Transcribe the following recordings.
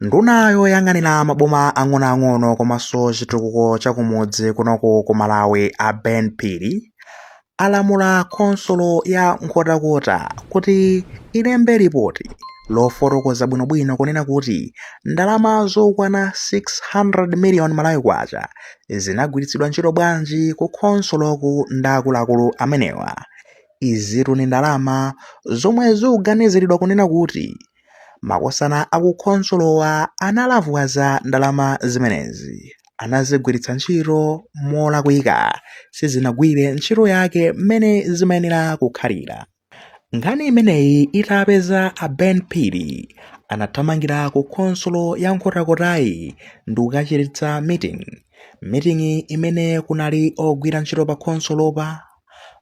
Nduna yoyang'anira maboma ang'onoang'ono komanso chitukuko cha kumudzi kunoku ku Malawi a Ben Phiri alamula khonsolo ya Nkhotakota kuti ilembe lipoti lofotokoza bwinobwino kunena kuti ndalama zokwana 600 miliyoni Malawi kwacha zinagwiritsidwa ntchito bwanji ku khonsoloku ndi akuluakulu amenewa. Izitu ndi ndalama zomwe zikuganiziridwa kunena kuti Makosana a ku khonsolowa analavwaza ndalama zimenezi, anazigwiritsa ntchito molakwika, sizinagwire ntchito yake mmene zimayenera kukhalira. Nkhani imeneyi itapeza a Ben Phiri anathamangira ku khonsolo ya Nkhotakota-yi ndikukachititsa meeting. Meeting imene kunali ogwira ntchito pa khonsolopa,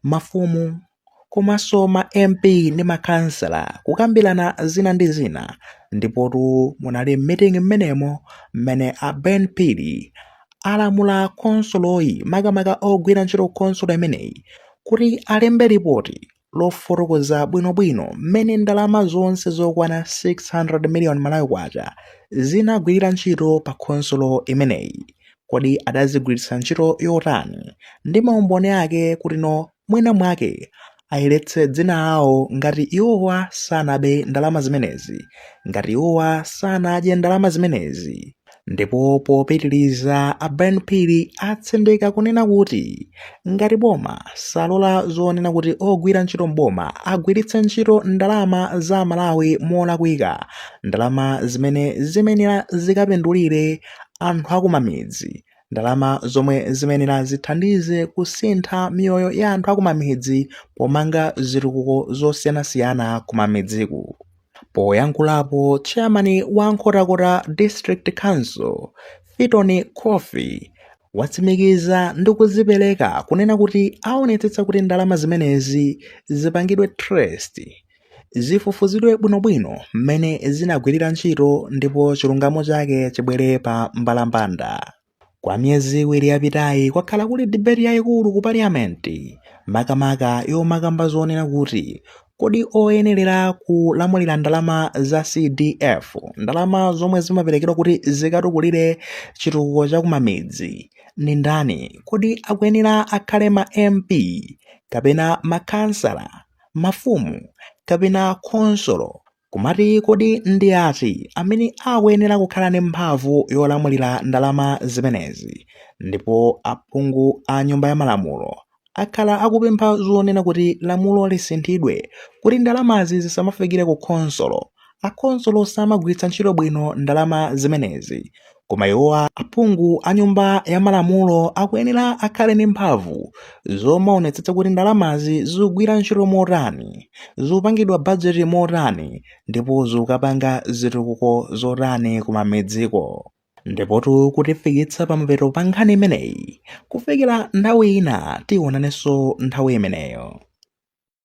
mafumu, komanso ma MP ndi makhansala kukambirana zina ndi zina ndipotu munali m'meeting mmenemo mmene a Ben Phiri alamula khonsoloyi makamaka ogwira ntchito khonsolo imeneyi kuti alembe lipoti lofotokoza bwinobwino mmene ndalama zonse zokwana 600 million Malawi kwacha zinagwirira ntchito pa khonsolo imeneyi. Kodi adazigwiritsa ntchito yotani? Ndi maumboni ake kuti no mwina mwake ayeretse dzina awo ngati iwowa sanabe ndalama zimenezi, ngati iwowa sanadye ndalama zimenezi. Ndipo popitiliza a Ben Phiri atsindika kunena kuti ngati boma salola zonena kuti ogwira ntchito m'boma agwiritse ntchito ndalama za Amalawi molakwika, ndalama zimene zimenera zikapindulire anthu akumamidzi, ndalama zomwe zimenera zithandize kusintha miyoyo ya anthu akumamidzi pomanga zitukuko zosiyanasiyana kumamidziku poyankhulapo chairman wa nkhotakota district council fitoni khofi watsimikiza ndi kuzipereka kunena kuti aonetsetsa kuti ndalama zimenezi zipangidwe trace zifufuzidwe bwinobwino mmene zinagwirira ntchito ndipo chilungamo chake chibwere pa mbalambanda kwa miyezi iwiri yapitayi kwakhala kuli dibeti yayikulu ku pariyamenti makamaka yomakamba zonena kuti kodi oyenerera kulamulira ndalama za cdf ndalama zomwe zimaperekedwa kuti zikatukulire chitukuko cha kumamidzi ndi ndani kodi akuyenera akhale ma mp kapena makhansala mafumu kapena khonsolo kumati kodi ndi ati amene akuyenera kukhala ndi mphamvu yolamulira ndalama zimenezi ndipo aphungu a nyumba ya malamulo akhala akupempha zonena kuti lamulo lisinthidwe kuti ndalamazi zisamafikire ku khonsolo Akhonsolo samagwiritsa ntchito bwino ndalama zimenezi koma iwowa aphungu a nyumba ya malamulo akuyenera akhale ndi mphamvu zomaonetsetsa kuti ndalamazi zigwira ntchito motani, zipangidwa bajeti motani ndipo zikapanga zitukuko zotani kumamidziko. Ndipotu kutifikitsa pamapeto pa nkhani imeneyi. Kufikira nthawi ina tionanenso nthawi imeneyo.